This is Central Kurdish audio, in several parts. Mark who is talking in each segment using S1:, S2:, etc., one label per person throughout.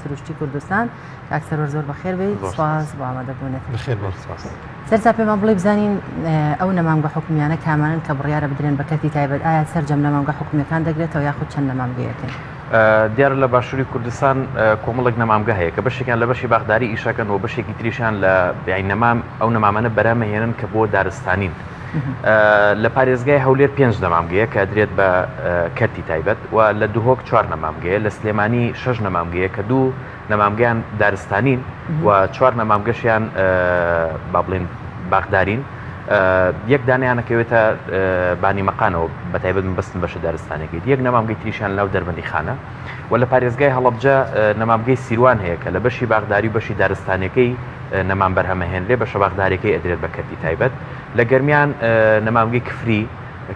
S1: سروشتی کوردستان کاک سەرۆر زۆر بەخێر بێت سپاس بۆ ئامادەبوونێت بەخێر بۆ سپاس
S2: سەرتا پێمان بڵێ
S1: بزانین ئەو نەمامگە حکومیانە کامانن کە بڕیارە بدرێن بە کەرتی تایبەت ئایا سەرجەم نەمامگە حکومیەکان دەگرێتەوە یاخود چەند نەمامگەیەکن دیار لە
S3: باشووری کوردستان کۆمەڵک نەمامگە هەیە کە بەشێکیان لە بەشی باخداری ئیشەکەن و بەشێکی تریشان لە بیاین نەمام ئەو نەمامەە بەرامەهێنن کە بۆ دارستانین لە پارێزگای هەولێر پێنج نەمامگەیە کە ئەدرێت بە کەرتی تایبەت و لە دهۆک چوار نەمامگەیە، لە سلێمانی شەش نەمامگەیە کە دوو نەمامگەیان دارستانین و چوار نەمامگەشیان با بڵێین باخدارین، یەک دانەیان ئەکەوێتە بانی مەقانەوە بەتایبەت مەبەستم بەشە دارستانیەکەی، یەک نەمامگەی تریشیان لەناو دەربەندیخانە. و لە پارێزگای هەڵەبجە نەمامگەی سیروان هەیە کە لە بەشی باخداری و بەشی دارستانیەکەی نەمام بەرهەمە هێن لێ بەشە باخداریەکەی ئەدرێت بە کەرتی تایبەت لە گەرمیان نەمامگەی کفری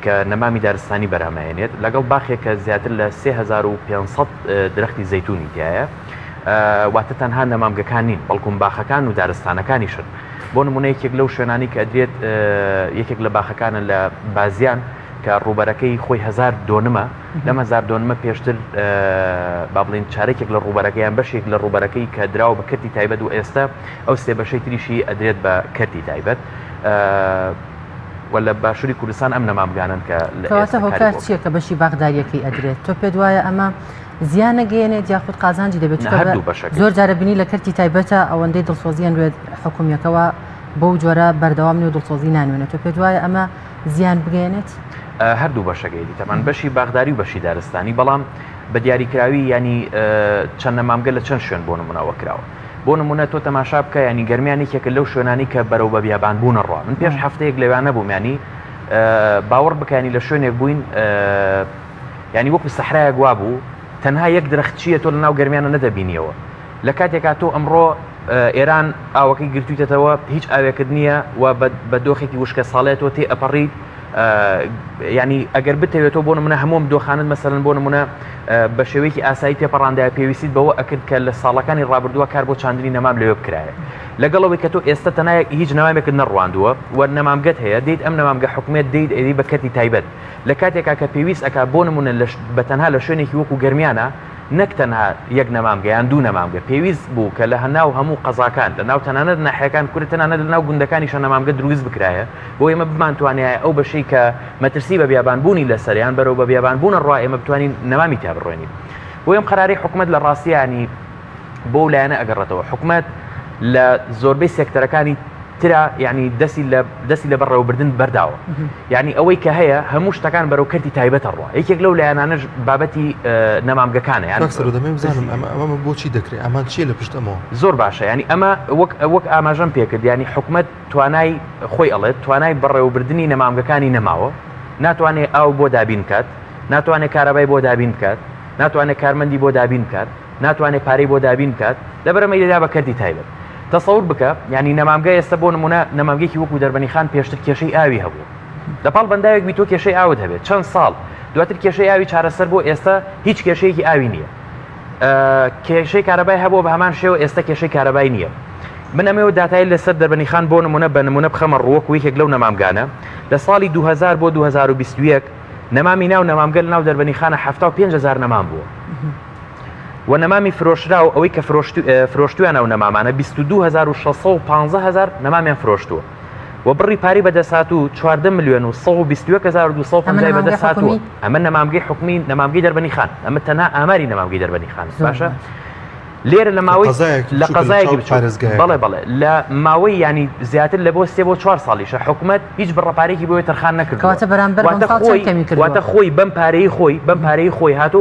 S3: کە نەمامی دارستانی بەرهەمە هێنێت لەگەڵ باخێک کە زیاتر لە 3500 درەختی زەیتونی تایە واتە تەنها نەمامگەکان نین بەڵکوم باخەکان و دارستانەکانیشن بۆ نمونە یەکێک لەو شوێنانی کە ئەدرێت یەکێک لە باخەکانە لە بازیان کە ڕوبەرەکەی خۆی هزار دۆنمە لەم هەزار دۆنمە پێشتر با بڵین چارێکێک لە ڕوبەرەکەیان بەشێک لە ڕوبەرەکەی کە دراوە بە کردی تایبەت و ئێستا ئەو سێ بەشەی تریشی ئەدرێت بە کردی تایبەت و لە باشووری کوردستان ئەم نەمامگانن کە لەواتە هۆکار چییە
S1: کە بەشی باغداریەکەی ئەدرێت تۆ پێت وایە ئەمە زیان نەگەێنێت یاخود قازانجی دەبێت زۆر جارە بینی لە کردی تایبەتە ئەوەندەی دڵسۆزیان وێت حکومیەکەەوە بەو جۆرە بەردەوام نێ و دڵسۆزی نانوێنێت تۆ پێت وایە ئەمە زیان بگەێنێت؟ هەردوو بەشەکەی
S3: دیتەمان بەشی باغداری و بەشی دارستانی بەڵام بە دیاریکراوی ینی چەند نەمامگە لە چەند شوێن بۆ نمونەوە کراوە بۆ نمونە تۆ تەماشا بکە ینی گەرمیان یەکێکە لەو شوێنانی کە بەرەو بە بیابان بوون ڕوا من پێش هەفتەیەک لەوانە بوومیانی باوەڕ بکانی لە شوێنێک بووین ینی وەکو سەحرایەک وا بوو تەنها یەک درەخت چیە تۆ لە ناو گەرمیانە نەدەبینیەوە لە کاتێکا تۆ ئەمڕۆ ئێران ئاوەکەی گرتویتەتەوە هیچ ئاوێکت نییە و بە دۆخێکی وشکە ساڵێت تۆ تێ ئەپەڕیت ینی ئەگەر بتەوێت تۆ بۆ منە هەموم دۆخانت مەسەرن بۆ نمونە بە شێوەیەکی ئاسایی تێپەڕاندای پێویستیت بەوە ئەکرد کە لە ساڵەکانی ڕابردووە کار بۆ چاندنی نەمام لەوێ بکرایە لەگەڵەوەی کە تۆ ئێستا تەنای هیچ نامێکت نەڕواندووە و نەمامگەت هەیە دیت ئەم نەمامگە حکومێت دیت ئەوی بە کەتی تایبەت لە کاتێکا کە پێویست ئەک بۆ نمونە بە تەنها لە شوێنێکی وەکو گەرمیانە نەک تەنها یەک نەمامگە یان دوو نەمامگە، پێویست بوو کە لە ناو هەموو قەزاکان، لە ناو تەنانەت ناحیەکان کورە تەنانەت لە ناو گوندەکانیشا نەمامگە دروست بکرایە بۆ ئێمە بمانتوانیایە ئەو بەشەی کە مەترسی بە بیابان بوونی لەسەر یان بەرەو بە بیابان بوونە ڕوا ئێمە بتوانین نەمامی تیا بڕوێنین بۆ ئەم قەرارەی حکومەت لە ڕاستیانی بۆ لایەنە ئەگەڕێتەوە حکومەت لە زۆربەی سێکتەرەکانی ترە یعنی دەسی لە دەسی لە بەڕێوەبردن بەرداوە یعنی ئەوەی کە هەیە هەموو شتەکان بەرەو کردی تایبەتە ڕوە یەکێک لەو لایەنانەش بابەتی نەمامگەکانە یان
S2: بزانم ئەمە بۆچی دەکرێت ئەمان چیە لە پشت ئەمەوە زۆر باشە ینی ئەمە
S3: وەک وەک ئاماژەم پێکرد ینی حکومت توانای خۆی ئەڵێت توانای بەڕێوەبردننی نەمامگەکانی نەماوە ناتوانێت ئاو بۆ دابین کات ناتوانێت کارەبای بۆ دابین بکات ناتوانێت کارمەندی بۆ دابین بکات ناتوانێت پارەی بۆ دابین بکات لەبەرەمەی دەدا بە کەرتی تایبەت تەسەور بکە ینی نەمامگە ئێستا بۆ نمونە نەمامگەێکی وەکو دەربەنی خان پێشتر کێشەی ئاوی هەبوو لە پاڵ بەنداوێک بی تۆ کێشەی ئاوت هەبێت چەند ساڵ دواتر کێشەی ئاوی چارەسەر بۆ ئێستا هیچ کێشەیەکی ئاوی نییە کێشەی کارەبای هەبوو بە هەمان شێوە ئێستا کێشەی کارەبای نییە من ئەمێ و دااتای لەسەر دەربەنی خان بۆ نمونە بە نمونە بخەمە ڕووەک و یەکێک لەو نەمامگانە لە ساڵی 2000 بۆ 2021 نەمامی ناو نەمامگەل ناو دەربەنی خانە 5هزار نەمان بووە و نەمامی فرۆشراو ئەوەی کە فرۆشتویان ئەو نەمامانە 2650 نەمامیان فرۆشتووە و بڕی پاری بەدەسات و 4 میلیۆن و 1250 بەدەسات و ئەمە نەمامگەی حکومی نەمامگەی دەربنی خان ئەمە تەنها ئاماری نەمامگەی دەربنی خان باشە لێرە لە ماوەی لە قەزایەکی بچارێزگای بەڵێ بەڵێ لە ماوەی ینی زیاتر لە بۆ سێ بۆ چوار ساڵیشە حکوومەت هیچ بڕەپارێکی بۆی تەرخان نەکردواتە بەرامبەر خۆی بەم پارەی خۆی بەم پارەی خۆی هاتۆ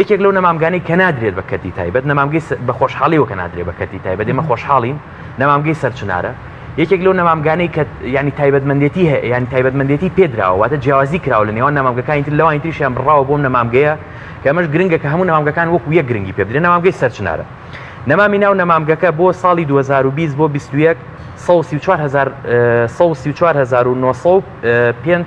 S3: یەکێک لەو نەمامگانی کە نادرێت بە کەرتی تایبەت نەمامگەی بە خۆشحاڵیەوە کە نادرێت بە کەرتی تایبەت ئێمە خۆشحاڵین نەمامگەی سەرچنارە یەکێک لەو نەمامگانەی کە ینی تایبەتمەندێتی هەیە یان تایبەتمەندێتی پێدراوەواتە جیاوازی کراوە لە نێوان نامامگەکانی تر لەوانی تریشیان بڕاوە بۆم نەمامگەیە کە ئەمەش گرنگە کە هەموو نامامگەکان وەکو یە گرنگی پێ بدرێن نامامگەی سەرچنارە نەمامی ناو نەمامگەکە بۆ ساڵی 2020 بۆ 21 1950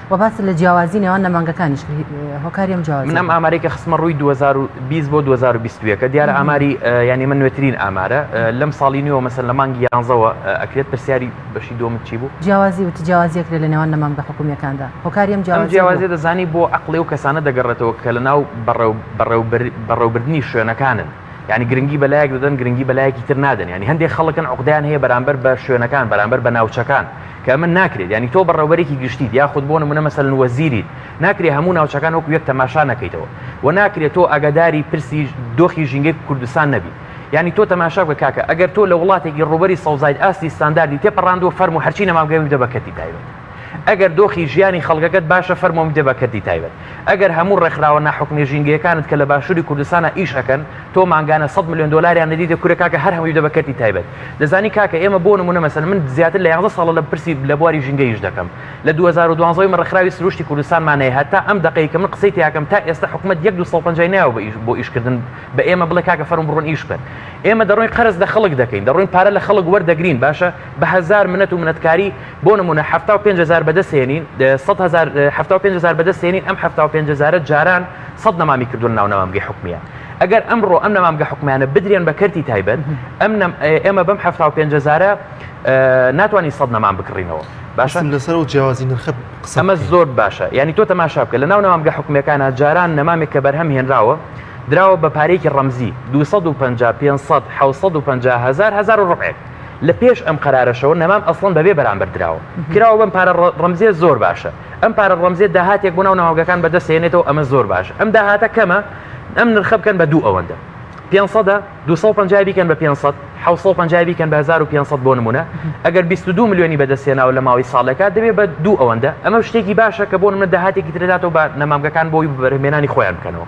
S1: وە باست لە جیاوازی نێوان نەمانگەکانیش کرد هۆکاری ئەم جیاوازیە. من ئەم ئامارەی کە خستمە ڕووی
S3: 2020 بۆ 2021 کە دیارە ئاماری یانی من نوێترین ئامارە لەم ساڵی نوێەوە مەسەن لە مانگی یانزەوە ئەکرێت پرسیاری بەشی دومت چی بوو جیاوازی وتی جیاوازیە
S1: کرێت لە نێوان نەمانگە حکومیەکاندا هۆکاری ئەم جیاوازیە جیاوازی دەزانی
S3: بۆ عەقڵی و کەسانە دەگەڕێتەوە کە لە ناو بەڕێوبردنی شوێنەکانن یعنی گرنگی بە لایەک دەدەن گرنگی بە لایەکی تر نادەن ینی هەندێک خەڵکن عقدەیان هەیە بەرامبەر بە شوێنەکان بەرامبەر بە ناوچەکان کە من ناکرێت ینی تۆ بەڕێوبەرێکی گشتی یاخود بۆ نمونە مەسەن وەزیری ناکرێ هەموو ناوچەکان وەکو یەک تەماشا نەکەیتەوە و ناکرێت تۆ ئەگەداری پرسی دۆخی ژینگەی کوردستان نەبی ینی تۆ تەماشا بە کاکە ئەگەر تۆ لە وڵاتێکی ڕوبەری سەوزایت ئاستی ستانداردی تێ پەڕاندوە فەرمو هەرچی نەمامگەوی دەبەکەتی تایبێت ئەگەر دۆخی ژیانی خەڵگەکەت باشە فەرمۆم دێ بە کەرتی تایبەت ئەگەر هەموو ڕێکخراوە ناحکومیە ژینگەیەکانت کە لە باشوری کوردستانا ئیش ئەکەن تۆ مانگانە سەد ملیۆن دۆلاریان نەدیتە کورە کاکە هەر هەمووی بدە بە کەرتی تایبەت دەزانی کاکە ئێمە بۆ نمونە مەسەن من زیاتر لە یازدە ساڵە لە پرسی لە بواری ژینگە ئیش دەکەم لە دوو هەزار و دوازدە من ڕێکخراوی سروشتی کوردستانمان هەیە هەتا ئەم دەقەی کە من قسەی تیاکەم تا ئێستا حکومەت یەک دوو سەد و پەنجا ی نەیاوە بە ئیش بۆ ئیشکردن بە ئێمە بڵێ کاکە فەرموو بڕۆن ئیش بکەن ئێمە دەڕۆین قەرز لە خەڵک دەکەین دەڕۆین پارە لە خەڵک وەردەگرین باشە بە هەزار منەت و منەتکاری بۆ نموونە حەفتا و پێنج هەزار بەدەستهێنین سەد هەزار حەفتا و پێنج هەزار بەدەستهێنین ئەم حەفتا و پێنج هەزارە جاران سەد نەمامی کردو لە ناو نەمامگەی حکومیە ئەگەر ئەمڕۆ ئەم نەمامگە حکومیانە بدرێن بە کەرتی تایبەت ئەم ئێمە بەم حەفتا و پێنج هەزارە ناتوانانی سەد نەمام بکڕینەوە باشم لەسەر و
S2: جیاوازی نرخ قسەمە زۆر
S3: باشە ینی تۆ تەماشا بکە لە ناو نامامگە حکومەکانە جاران نەمامێک کە بەرهەم هێنراوە دراوە بە پارێکی ڕەمزی 250 500 1950 هزار هزار و ڕقێک لە پێش ئەم قەرارەشەوە نەمام ئەسڵەن بەبێ بەرامبەر دراوە کراوە بەم پارە ڕەمزیە زۆر باشە ئەم پارە ڕەمزێ داهاتێک بۆ ناو ناوگەکان بەدەستێنێتەوە ئەمە زۆر باش ئەم داهاتە کەمە ئەم نرخە بکەن بە دوو ئەوەندە 500 250 بیکەن بە 500 500 بیکەن بە 1500 بۆ نمونە ئەگەر 22 میلیۆنی بەدەستێناوە لە ماوەی ساڵێکا دەبێ بە دوو ئەوەندە ئەمە شتێکی باشە کە بۆ منە داهاتێکی ترێداتەوە بە نەمامگەکان بۆی بەرهمێنانی خۆیان بکەنەوە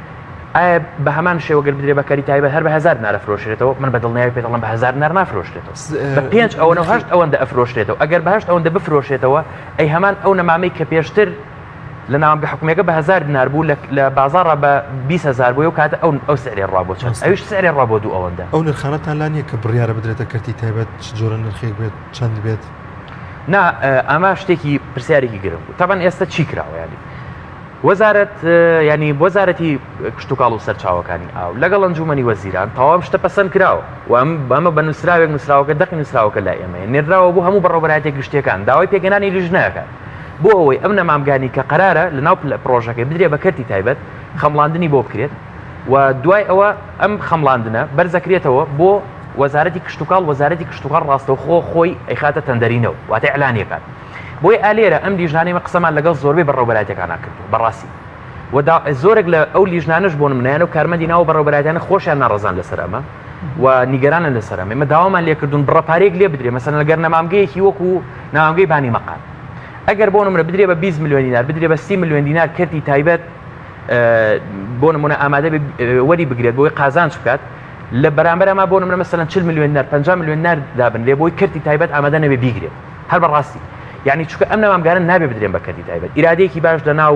S3: ئایا بە هەمان شێوە گەر بدرێ بە کەری تایبەت هەر بە هزار دینار ئەفرۆشرێتەوە من بە دڵنیایی پێت دەڵێم بە هزار دینار نافرۆشرێتەوە س- بە پێنج ئەوە نرخی هەشت ئەوەندە ئەفرۆشرێتەوە ئەگەر بە هەشت ئەوەندە بفرۆشێتەوە ئەی هەمان ئەو نەمامەی کە پێشتر لە ناوامگە حکومیەکە بە هزار دینار بوو لە لە بازاڕا بە بیست هەزار بووی ئەو کاتە ئەو ئەو سعرێ ڕا بۆ چەند ڕاستە. ئەویش سعرێ ڕا بۆ دوو ئەوەندە ئەو نرخانەتان لا نییە
S2: کە بڕیارە بدرێتە کەرتی تایبەت چ جۆرە نرخێک بێت چەند بێت نا
S3: ئە، ئەمە شتێکی پرسیارێکی گرنگ بوو تەبەن ئێستە چی کراوە یانی وەزارەت یانی وەزارەتی کشتتوکاڵ و سەرچاوەکانی ئاو لەگەڵ ئەنجومنی وەزیران تەواوم شتە پەسەند کراوە وام بەمە بە نووسراوێک نووسراوەکە دەقی نووسراوەکە لای ئێمە نێراوە بۆ هەموو بەڕۆبەرایەتی گشتەکان داوای پێگەنانی لیژنەکە بۆ ئەوەی ئەم نەمامگانی کە قرارە لە ناو لە پرۆژەکەی بدرێ بە کەرتی تایبەت خەمڵاندنی بۆ بکرێت و دوای ئەوە ئەم خەمڵاندنە بەرزەکرێتەوە بۆ وەزارەتی کشتتوکاڵ وەزارەتی کشتتوکاڵ ڕاستەوخۆ خۆی ئەیخاتە تەندەرینەوە واتە ئەلانیەکان بۆی ئا لێرە ئەم لیژنانەی من قسەمان لەگەڵ زۆربەی بەڕێوەبەرایەتیەکانا کردووە بەڕاستی و دا زۆرێک لە ئەو لیژنانەش بۆ نمونەیان و کارمەندی ناو بەڕێوەبەرایەتیانە خۆشیان ناڕەزان لەسەر ئەمە و نیگەرانن لەسەر ئەمە ئێمە داوامان لێکردوون بڕە پارەیەک لێ بدرێ مەسەلەن لەگەر نەمامگەیەکی وەکو نامامگەی بانی مەقام ئەگەر بۆ نمرە بدرێ بە 20 میلیۆن دینار بدرێ بە 30 میلیۆن دینار کەرتی تایبەت بۆ نمونە ئامادە بێ وەری بگرێت بۆی قازانج بکات لە بەرامبەر ئەما بۆ نمرە مەسەلەن 40 میلیۆن دینار 50 میلیۆن دینار دابنرێ بۆی کەرتی تایبەت ئامادە نەبێ بیگرێت هەر بە ڕاستی یعنی چکە ئەم نامامگارن نابێ بدرێن بە کەدی تایبەت ئیرادێکی باش لە ناو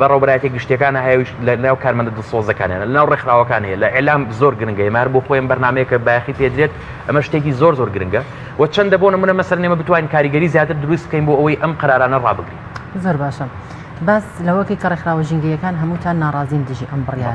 S3: بەڕۆبراتی گشتەکان هەیەویش لە ناو کارمەندە دڵسۆزەکانیان لە ناو ڕێکخراوەکان هەیە لە ئەلام زۆر گرنگە مار بۆ خۆیان بەرنمەیەکە باخی پێدرێت ئەمە شتێکی زۆر زۆر گرنگە و چەندە بۆ نمونە مەسەر نێمە بتوانین کاریگەری زیاتر دروست بکەین بۆ ئەوەی ئەم قرارانە ڕابگرین زۆر باشە
S1: باس لەوەکەی کە ڕێکخراوە ژینگەیەکان هەمووتان ناڕازین دژی ئەم بڕیاە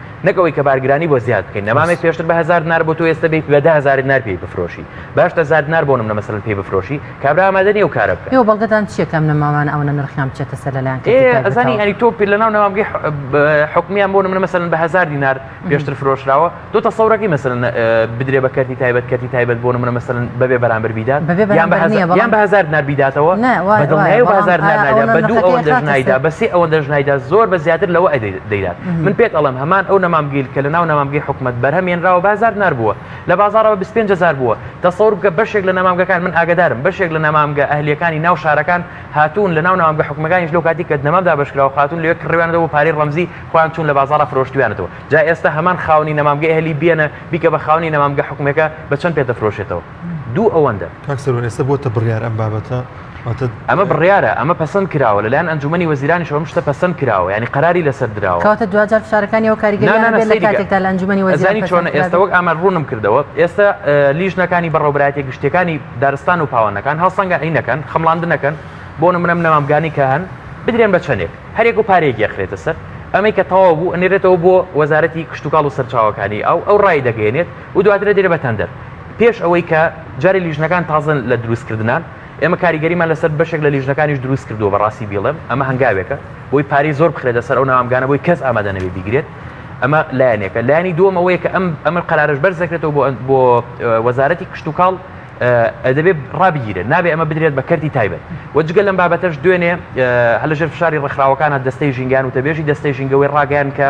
S3: نەک ئەوەی کە بارگرانی بۆ زیاد بکەین نەمامێک پێشتر بە هزار دینار بۆ تۆ ئێستا بێت بە ده هزار دینار پێی بفرۆشی باش دە هزار دینار بۆ نمونە مەسەلەن پێی بفرۆشی کابرا ئامادە نییە و کارە بکات ئێوە بەڵگەتان چییە کە ئەم
S1: نەمامانە ئەوەنە نرخیان بچێتە سەر لەلایەن کەسی ئێ تایبەتەوە؟ ئەزانی ئەنی تۆ
S3: پێ لەناو نەمامگەی ح- ب- حکومیان بۆ نمونە مەسەلەن بە هزار دینار پێشتر فرۆشراوە دۆ تەسەورەکەی مەسەلەن ئە، بدرێ بە کەرتی تایبەت کەرتی تایبەت بۆ نمونە مەسەلەن بەبێ بەرامبەر بیدات بەبێ یان بە بەرامبەر هەزا- نییە، بەڵام- یان بە هزار دینار بیداتەوە نە، وایە، بە دڵنیایی وایە، و بە بەڵام هزار دینار ئایا نایدا ئەوەنە بە دوو نرخەکەی ئەوەندەش خاتە سەر؟ نایدا بە سێ ئەوەندەش نایدا زۆر بە زیاتر لەوە ئەدەی دەیدات من پێت ئەڵم هەمان ئەو نەمامگەیل کە لە ناو نامامگەی حکومت بەرهەم ێنراوە بازار نربووە لە بازارەوە 25هزار بووە تەسەور بکە بەشێک لە نامامگەکان من ئاگدارم بەشێک لە نامامگە ئەهلیەکانی ناو شارەکان هاتوون لە ناو نامامگە حکومەکانیش لەو کاتی کە نەمام دابشکراوە خاتون لەێ کڕوانەوە پارەی ڕەمزی خۆیان چون لە بازارە فرۆشتویانەتەوە جا ئێستا هەمان خاونی نەمامگە ئەهلی بیێنە بیکە بە خاونی نەمامگە حکومەکە بە چەند پێ دەفرۆشێتەوە دوو ئەوەندە کاک سەروان ئێستا بۆتە
S2: بڕیار ئەم بابەتە واتە ئەمە
S3: بڕیارە ئەمە پەسەند کراوە لەلایەن ئەنجومەنی وەزیرانیش ئەم شتە پەسەند کراوە ینی قەراری لەسەر دراوە کەواتە دواجار فشارەکانی
S1: ئەو کاریگەری نا، نا، هەبێت لە سەیری کە. کاتێکدا لە ئەنجومەنی وەزیران ئەزانی چۆنە پەسەند ئێستا کرابێت. وەک ئامار
S3: ڕوونم کردەوە ئێستا اه، لیژنەکانی بەڕێوەبەرایەتیە گشتیەکانی دارستان و پاوانەکان هەڵسەنگاندنەکەن خەمڵاندنەکەن بۆ نمونە منەمامگانی کە هەن بدرێن بە چەنێک هەریەک و پارەیەک یەخرێتە سەر ئەمەی کە تەواو بوو ئەنێرێتەوە بۆ وەزارەتی کشتوکاڵ و سەرچاوەکانی ئاو ئەو ڕایدەگەیەنێت و دواتر دەدرێت بە تەندەر. پێش ئەوەی کە جارێ لیژنەکان تازە لە دروستکردنان، ئێمە کاریگەریمان لەسەر بەشێک لە لیژنەکانیش دروست کردووە بە ڕاستی بیڵێم، ئەمە هەنگاوێکە بۆی پارەی زۆر بخرێتە سەر ئەو ناوامگانە بۆی کەس ئامادە نەبێ بیگرێت، ئەمە لایەنێکە. لایەنی دووەم ئەوەیە کە ئەم ئەمە قەرارەش بەرز دەکرێتەوە بۆ وەزارەتی کشتوکاڵ، دەبێت ڕابگیرێت، نابێت ئەمە بدرێت بە کەرتی تایبەت. وە جگە لەم بابەتەش دوێنێ هەر لەژێر فشاری ڕێکخراوەکانە دەستەی ژینگەیان وتەبێژی دەستەی ژینگە وەی ڕاگەیاند کە،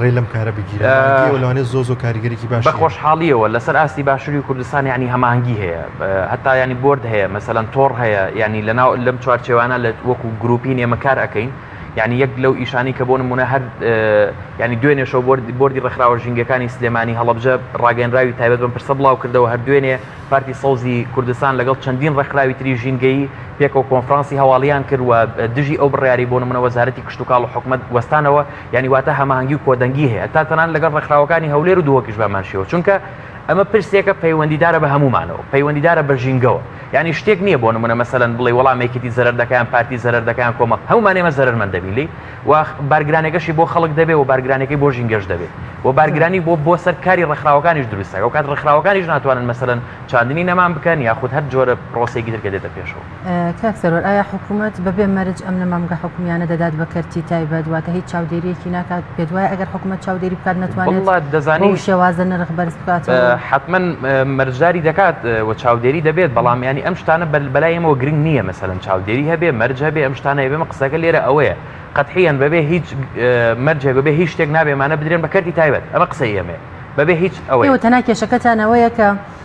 S2: ڕێ لەم کارە بگیرێت مانگیەوە لەوانێت زۆر زۆر کاریگەرێکی باشە. بە خۆشحاڵییەوە لەسەر
S3: ئاستی باشووری کوردستان یانی هەماهەنگی هەیە هەتا ینی بۆرد هەیە مەسەلەن تۆڕ هەیە ینی لەناو لەم چوارچێوانە لە وەکو گروپین ئێمە کار ئەەکەین یعنی یەک لەو ئیشانی کە بۆ نمونە هەر ینی دوێنێشەوە بردی بردی ڕێکخراوە ژینگەکانی سلێمانی هەڵبجە ڕاگەنراوی تایبەت بم پرسە بڵاو کردەوە هەر دوێنێ پارتی سەوزی کوردستان لەگەڵ چەندین ڕێکخراوی تری ژینگەی پێکەوە کۆنفرانسی هەواڵیان کردوە دژی ئەو بڕیاری بۆ نمونە وەزارەتی کشتتوکاڵ و حکومت وەستانەوە یانی واتە هەماهەنگی و کۆدەنگی هەیە تا تەنانەت لەگەڵ ڕێکخراوەکانی هەولێر و دهۆکیش بەهەمان شێوە چونکە ئەمە پرسێکە پەیوەندیدارە بە هەموومانەوە پەیوەندیدارە بە ژینگەوە یانی شتێک نییە بۆ نمونە مەسەلەن بڵێ وەڵام یەکێتی زەرەر دەکا یان پارتی زەرەر دەکا یان کۆمەڵ هەموومان ئێمە زەرەرمەند دەبین لێی و بارگرانەکەشی بۆ خەڵک دەبێ و بارگرانەکەی بۆ ژینگەش دەبێ و بارگرانی بۆ بۆ سەر کاری ڕێکخراوەکانیش دروستە ئەو کات ڕێکخراوەکانیش ناتوانن مەسەلەن چاندنی نەمان بکەن یاخود هەر جۆرە پرۆسەیەکی تر کە دێتە پێشەوە کاک سەروەر ئایا
S1: حکومەت بەبێ مەرج ئەم نەمامگە حکومیانە دەدات بە کەرتی تایبەت واتە هیچ چاودێریەکی ناکات پێت وایە ئەگەر حکومەت چاودێری بکات نەتوانێت دەزانی شێوازە
S3: نرخ بەرز
S1: بکات حتمما
S3: مەرجداری دەکات و چاودێری دەبێت بەڵام ینی ئەم شتانە بەر بەلایەمەوە گرنگ نییە مەسەن چاودێری هەبێ مەرج هەبێ ئەم شتانە بێمە قسەکە لێرە ئەوەیە قەتحیان بەبێ هیچ مەرجێ بەبێ هیچ شتێک نابێمانە بدرێن بە کەرتی تایبەت ئەمە قسە ئێمێ بەبێ هیچ ئەوەی تەنا کێشەکەتانەوەیە
S1: کە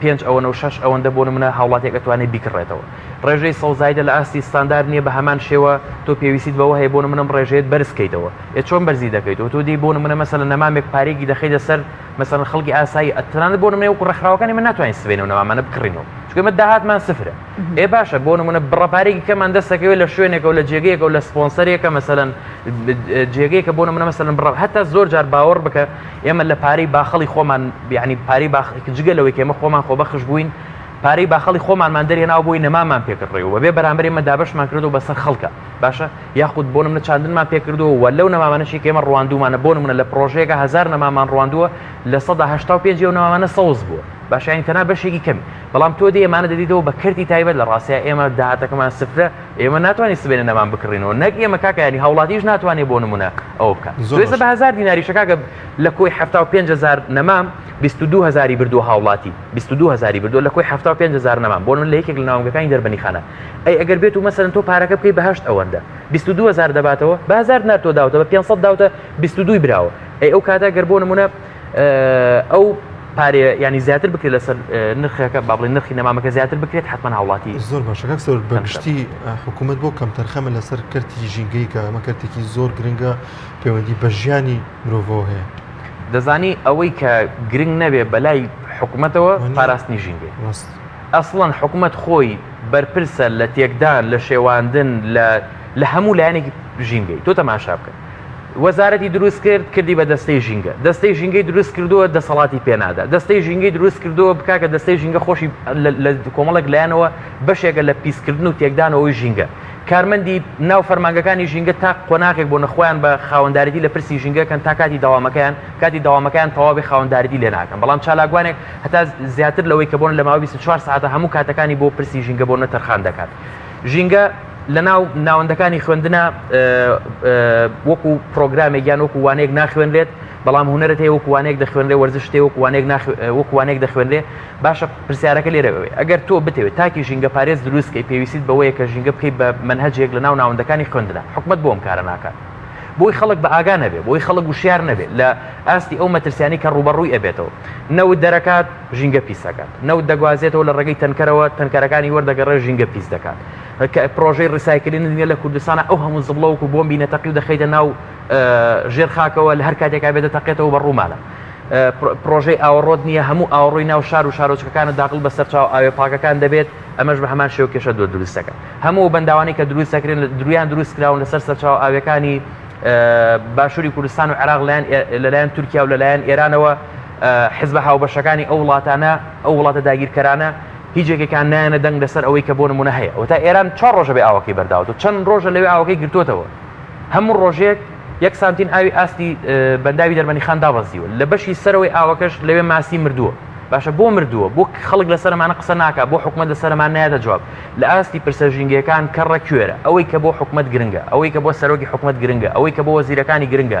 S3: پێنج ئەوەنە و شەش ئەوەندە بۆ نمونە هاوڵاتیەک ئەتوانێ بیکڕێتەوە ڕێژەی سەوزایدە لە ئاستی ستاندار نییە بە هەمان شێوە تۆ پێویستیت بەوە هەیە بۆ نمونەم ڕێژەیەت بەرزکەیتەوە ئێ چۆن بەرزی دەکەیتەوە تۆ دێی بۆ نمونە مەسەلەن نەمامێک پارێکی دەخەیتە سەر مەسەلەن خەڵکی ئاسایی ئەتوانێت بۆ نمونە وەکوو ڕێکخراوەکانی من ناتوانین سبەینێ و نەمامانە بکڕینەوە چونکە ئێمە داهاتمان سفرە ئێ باشە بۆ نمونە بڕە پارێکی کەمان دەستەکەوێت لە شوێنێکە و لە جێگەیەکە و لە سپۆنسەرێکە مەسەلەن جێگەیەکە بۆ نمونە مەسەلەن بڕە هەتا زۆر جار باوەڕ بکە ئێمە لە پارەی باخەڵی خۆمان، یەعنی پارەی باخ، جگە لەوەی کە ئێمە خۆمان خۆبەخش بووین، پارەی باخەڵی خۆمانمان دەرهێناوە بۆی نەمامان پێ کردڕێ و بە بێ بەرامبەر ئێمە دابەشمان کردووە بە سەر خەڵکا، باشە، یاخود بۆ نمونە چاندنمان پێ کردووە و لەو نەمامانەشی کە ئێمە ڕواندوومانە، بۆ نمونە لە پڕۆژەیەکا هەزار نەماممان ڕواندووە، لە سەدا هەشتا و پێنجی ئەو نەمامانە سەوز بووە، باشە، یانی تەنها بەشێکی کەمی، بەڵام تۆ دێی ئەمانە دەدەیتەوە بە کەرتی تایبەت، لە ڕاستیا ئێمە داهاتەکەمان سفرە، ئێمە ناتوانین سبەینێ نەمام بکڕین و نەک ئێمە کاکە یانی هاوڵاتیش ناتوانێ بۆ نمونە، ئەوە بکات زۆرزە بە هزار دیناریشە کاکە لە کۆی ه پهزار نەمام 22 هزاری بردو هاوڵاتی 22 هزاری بردو لە کۆی ه پهزار نەمام بۆن لە یەکێک لە ناوگەکانی دەربنی خانە ئەی ئەگەر بێت و مەسەن تۆ پارەکە بکەی بەهشت ئەوەندە 22 هزار دەباتەوە بهزار ناتۆ داوتەوە 500 داوتە 22 براوە ئەی ئەو کاتە گەر بۆ نمونە ئەو پارێ ینی زیاتر بکرێت لەسەر نرخەکە با بڵێ نرخی نەمامەکە زیاتر بکرێت حتمما هاوڵاتی زۆر باشەکە سەر
S2: بەگشتی حکوومەت بۆ کەم تەرخەمە لەسەر کەرتی ژینگەی کە ئەمە کەرتێکی زۆر گرنگە پەیوەندی بە ژیانی مرۆڤەوە هەیە دەزانی
S3: ئەوەی کە گرنگ نەبێ بەلای حکوومەتەوە پاراستنی ژینگە ڕاست ئەسڵەن حکوومەت خۆی بەرپرسە لە تێکدان لە شێواندن لە لە هەموو لایەنێکی ژینگەی تۆ تەماشا بکەن وەزارەتی دروست کرد کردی بە دەستەی ژینگە دەستەی ژینگەی دروست کردووە دەسەڵاتی پێنادا دەستەی ژینگەی دروست کردووە بکاکە دەستەی ژینگە خۆشی لە کۆمەڵک لایەنەوە بەشێکە لە پیسکردن و تێکدانەوەی ژینگە کارمەندی ناو فەرمانگەکانی ژینگە تا قۆناغێک بۆ نەخۆیان بە خاوەندارێتی لە پرسی ژینگەکەن تا کاتی داوامەکەیان کاتی داوامەکەیان تەواوی خاوەندارێتی لێ ناکەن بەڵام چالاکوانێک هەتا زیاتر لەوەی کە بۆن لە ماوەی 24 ساعتە هەموو کاتەکانی بۆ پرسی ژینگە بۆ نەتەرخان دەکات ژینگە لە ناو ناوەندەکانی خوێندنە وەکو پرۆگرامێک یان وەکو وانێک ناخوێنرێت بەڵام هوەرت هەیە وەکوانێک دەخوێنێ وەرزشتێ وەکوانێک وەکوانێک دەخوێنێ باشە پرسیارەکە لێرەوەێ ئەگەر تۆ بتەوێت تاکی ژینگە پارێز دروستکەی پێویست بەوەیە کە ژینگە بکەیت بە منهجێک لە ناو ناوەندەکانی خوێندنە حکومت بۆم کارە ناکات بۆی خەڵک بە ئاگا نەبێ بۆی خەڵک وشیار نەبێت لە ئاستی ئەو مەترسیانی کە ڕوبەڕووی ئەبێتەوە نەوت دەرەکات ژینگە پیس ئەکات نەوت دەگوازێتەوە لە ڕێگەی تەنکەرەوە تەنکەرەکانی وەردەگەڕێ ژینگە پیس دەکات کە پرۆژەی ڕیسایکلین نیە لە کوردستانە ئەو هەموو زبڵەوەکو بۆمبی نەتەقی و دەخیتە ناو ژێر خاکەوە لە هەر کاتێکا بێتە تەقێتەوە بە ڕوومانە پرۆژەی ئاوەڕۆت نییە هەموو ئاوڕۆی ناو شار و شارۆچکەکانە داقل بە سەرچاو ئاوێ پاکەکان دەبێت ئەمەش بە هەمان شێو کێشە دو دروستەکە هەموو بەنداوانی کە دروست دەکرێن لە درویان دروست کراون لەسەر سەرچاو ئاوەکانی باشووری کوردستان و عراق لەلایەن لەلایەن تورکیا و لەلایەن ئێرانەوە حزبە هاوبەشەکانی ئەو وڵاتانە ئەو وڵاتە داگیرکەرانە هیچ یەکێکان نایەنە دەنگ لەسەر ئەوەی کە بۆ نمونە هەیە و تا ئێران چ ڕۆژە بێ ئاوەکەی بەرداوە و چەند ڕۆژە لەوێ ئاوەکەی گرتوتەوە هەموو ڕۆژێک یەک سانتین ئاوی ئاستی بەنداوی دەرمەنی خان دابەزیوە لە بەشی سەرەوەی ئاوەکەش لەوێ ماسی مردووە باشە بۆ مردووە بۆ خەڵک لە سەرمانە قسە ناکە بۆ حکومت لە سەرمان نایەتە جواب لە ئاستی پرسە ژینگەکان کەڕە کوێرە ئەوەی کە بۆ حکومت گرنگە ئەوەی کە بۆ سەرۆکی حکومت گرنگە ئەوەی کە بۆ وەزیرەکانی گرنگە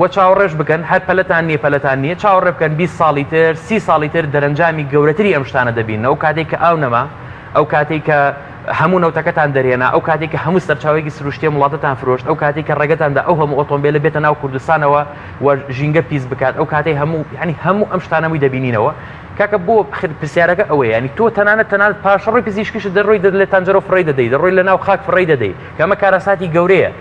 S3: وە چاوەڕێش بکەن هەر پەلەتان نیە پەلەتان نیە چاوەڕێ بکەن بیست ساڵی تر سی ساڵی تر دەرەنجامی گەورەتری ئەم شتانە دەبینن ئەو کاتێک کە ئاو نەما ئەو کاتێک کە هەموو نەوتەکەتان دەرێنا ئەو کاتێک کە هەموو سەرچاوەیەکی سروشتیە وڵاتتان فرۆشت ئەو کاتێک کە ڕێگەتاندا ئەو هەموو ئۆتۆمبیلە بێتە ناو کوردستانەوە و ژینگە پیس بکات ئەو کاتەی هەموو ینی هەموو ئەم شتانەمووی دەبینینەوە کاکە بۆ پرسیارەکە ئەوەیە ینی تۆ تەنانەت تەنانەت پاشەڕۆی پزیشکیش دەڕۆی دەر لە تەنجەرۆ فڕی دەدەی دەڕۆی لە ناو خاک فڕی دەدەی کەمە کارەساتی گەورەیە